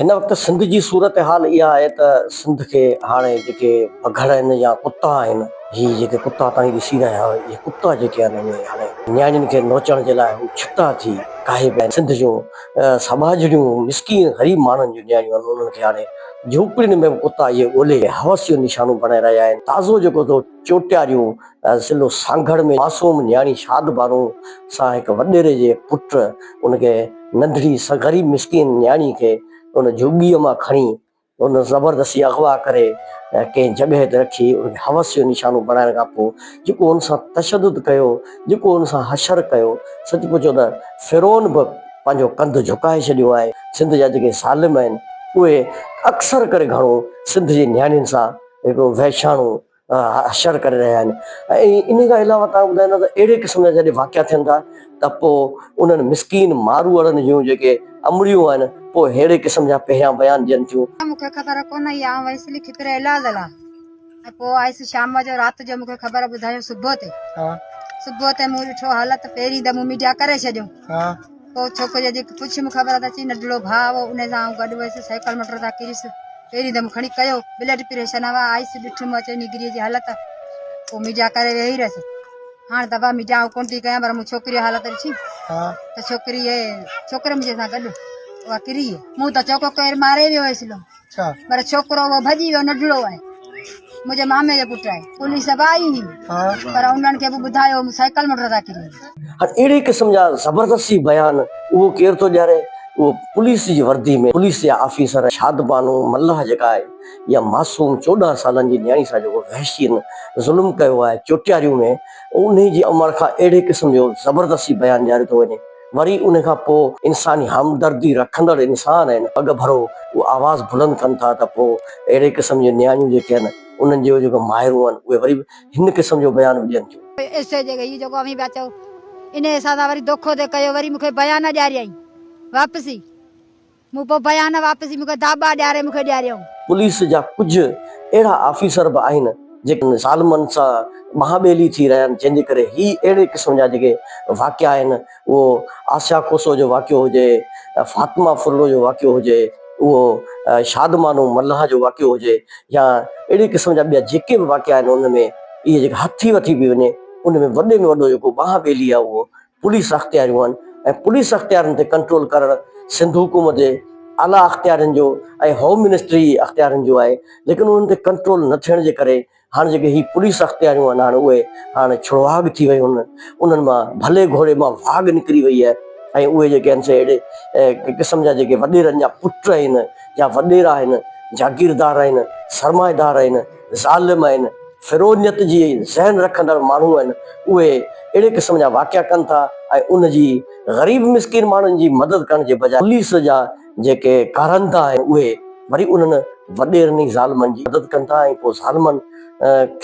هن وقت سنڌ جي صورتحال اها آهي ته سنڌ کي هاڻي جيڪي پگهر آهن يا ڪتا آهن، هي جيڪي ڪتا توهين ڏسي رهيا آهيو، اهي ڪتا جيڪي آهن اهي هاڻي نياڻين کي نوچڻ جي لاء هو ڇٽا ٿي ڪاهي پيا آهن. سنڌ جون سٻاجهڙيون مسڪين غريب ماڻهن جون نياڻيون آهن، انهن کي هاڻي جهوپڙين ۾ به ڪتا اهي ڳولي هوس جو نشانو بڻائي رهيا آهن. تازو جيڪو چوٽياريون ضلعو سانگهڙ ۾ معصوم نياڻي شاد بانو سان هڪ وڏيري جي پٽ ان کي ننڍڙي غريب مسڪين نياڻي کي ان جهڳيء مان کڻي ان زبردستي اغوا ڪري ڪنهن جڳهه تي رکي ان کي حوس جو نشانو بڻائڻ کان پوء جيڪو ان سان تشدد ڪيو جيڪو ان سان حشر ڪيو سچ پچو ته فرعون به پنهنجو ڪنڌ جهڪائي ڇڏيو آهي سنڌ جا جيڪي ظالم آهن اهي اڪثر ڪري گهڻو سنڌ جي نياڻين سان هڪڙو وحشياڻو حشر ڪري رهيا آهن ۽ ان کان علاوه تان ٻڌائيندا ته اهڙي قسم جا جڏهن واقعا ٿين ٿا ته پوء انهن مسڪين ماروئڙن جون جيڪي امڙيون آهن پوء ههڙي قسم جا پهريان بيان ڏين ٿيون. مون کي خبر ڪونه هئي آئون ويس لکي پري علاج لاء ۽ پوء آيس شام جو رات جو مون کي خبر ٻڌايون صبح تي صبح تي مون ڏٺو حالت پهرين ته مون ميڊيا ڪري ڇڏيو پوء ڇوڪريء جي پڇي مون خبر اچي ننڍڙو ڀاء هو ان سان آئون گڏ هيس سائيڪل موٽر تان ڪريس پهرين دم کڻي ڪيو بلڊ پريشر نه هوا آئس ڏٺم اچي نگري جي حالت پوء ميڊيا ڪري ويهي رهيس هاڻ دبا ميڊيا آئون ڪون ٿي ڪيان پر مون ڇوڪري حالت ڏٺي ته ڇوڪري ڇوڪري منهنجي سان گڏ اها ڪري مون ته چوڪو ڪير ماري ويو هيس لو پر ڇوڪرو اهو ڀڄي ويو نڍڙو آهي منهنجي مامي جو پٽ آهي پوليس به آئي هئي پر انهن کي به ٻڌايو سائيڪل موٽر تان ڪري اهڙي قسم جا زبردستي بيان اهو ڪير ٿو ڏياري اهو پوليس جي وردي ۾ پوليس جا آفيسر شادبانو ملاح جيڪا آهي اها معصوم چوڏهن سالن جي نياڻي سان جيڪو وحشين ظلم ڪيو آهي چوٽياريون ۾ انهي جي امڙ کان اهڙي قسم جو زبردستي بيان ڏياري ٿو وڃي وري ان کان پوء انساني همدردي رکندڙ انسان ۽ اڳڀرو اهو آواز بلند ڪن ٿا ته پوء اهڙي قسم جون نياڻيون جيڪي آهن انهن جون جيڪي مائرون آهن اهي وري به هن قسم جو بيان به ڏين ٿيون. اسٽيج تي هي جيڪو اوهين پيا چئو انهي حساب سان وري دوکو ته ڪيو وري مون کي بيان نه ڏياريائين واپسي. مون پوء بيان واپسي مون کي داٻا ڏياري مون کي ڏياريائون. پوليس جا ڪجهه اهڙا آفيسر به آهن جيڪي ظالمن سان ٻانهن ٻيلي ٿي رهيا آهن جنهن جي ڪري هي اهڙي قسم جا جيڪي واقعا آهن اهو آسيا کوسو جو واقعو هجي، فاطمه ڦرڙو جو واقعو هجي، اهو شادمانو ملاح جو واقعو هجي يا اهڙي قسم جا ٻيا جيڪي به واقعا آهن ان ۾ اهي جيڪي هٿي وٿي به وڃي ان ۾ وڏي ۾ وڏو جيڪو ٻانهن ٻيلي آهي اهو پوليس اختياريون آهن ۽ پوليس اختيارين تي ڪنٽرول ڪرڻ سنڌ حڪومت جي اعليٰ اختيارين جو ۽ هوم منسٽري جي اختيارين جو آهي ليڪن انهن تي ڪنٽرول نه ٿيڻ جي ڪري هاڻ جيڪي هي پوليس اختياريون آهن هاڻ اهي هاڻ ڇڙواڳ ٿي ويون آهن انهن مان ڀلي گهوڙي مان واڳ نڪري وئي آهي ۽ اهي جيڪي آهن سي اهڙي قسم جا جيڪي وڏيرن جا پٽ آهن يا وڏيرا آهن جاگيردار آهن سرمائيدار آهن ظالم آهن، فرعونيت جي ذهن رکندڙ ماڻهو آهن، اهي اهڙي قسم جا واقعا ڪن ٿا ۽ ان جي غريب مسڪين ماڻهن جي مدد ڪرڻ جي بجاء پوليس جا جيڪي ڪارندا آهن اهي وري انهن وڏيرن ئي ظالمن جي مدد ڪن ٿا ۽ پوء ظالمن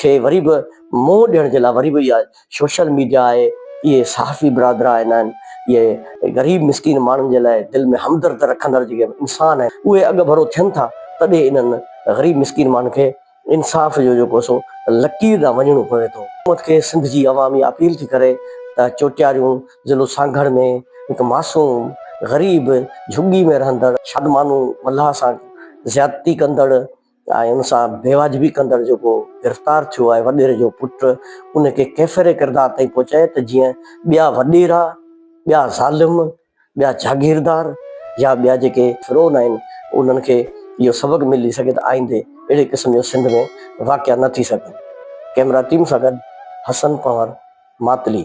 کي وري به منهن ڏيڻ جي لاء وري به اها سوشل ميڊيا آهي اهي صحافي برادر آهن اهي غريب مسڪين ماڻهن جي لاء دل ۾ همدرد رکندڙ جيڪي انسان آهن اهي اڳڀرو ٿين ٿا تڏهن انهن غريب مسڪين ماڻهن کي انصاف جو جيڪو سو لڪير ڏانهن وڃڻو پوي ٿو حڪومت کي سنڌ جي عوام اها اپيل ٿي ڪري ته چوٽياريون ضلعو سانگهڙ ۾ هڪ معصوم غريب جهڳي ۾ رهندڙ شادمانو ملاح سان زيادتي ڪندڙ آء ان سان بيواجبي ڪندڙ جيڪو گرفتار ٿيو آهي وڏيري جو پٽ ان کي ڪيفر ڪردار تائين پهچائي ته جيئن ٻيا وڏيرا ٻيا ظالم ٻيا جاگيردار يا ٻيا جيڪي فرعون آهن انهن کي اهو سبق ملي سگهي ته آئيندي اهڙي قسم جو سنڌ ۾ واقعا نه ٿي سگهن ڪيمرا ٽيم سان گڏ حسن پنهور ماتلي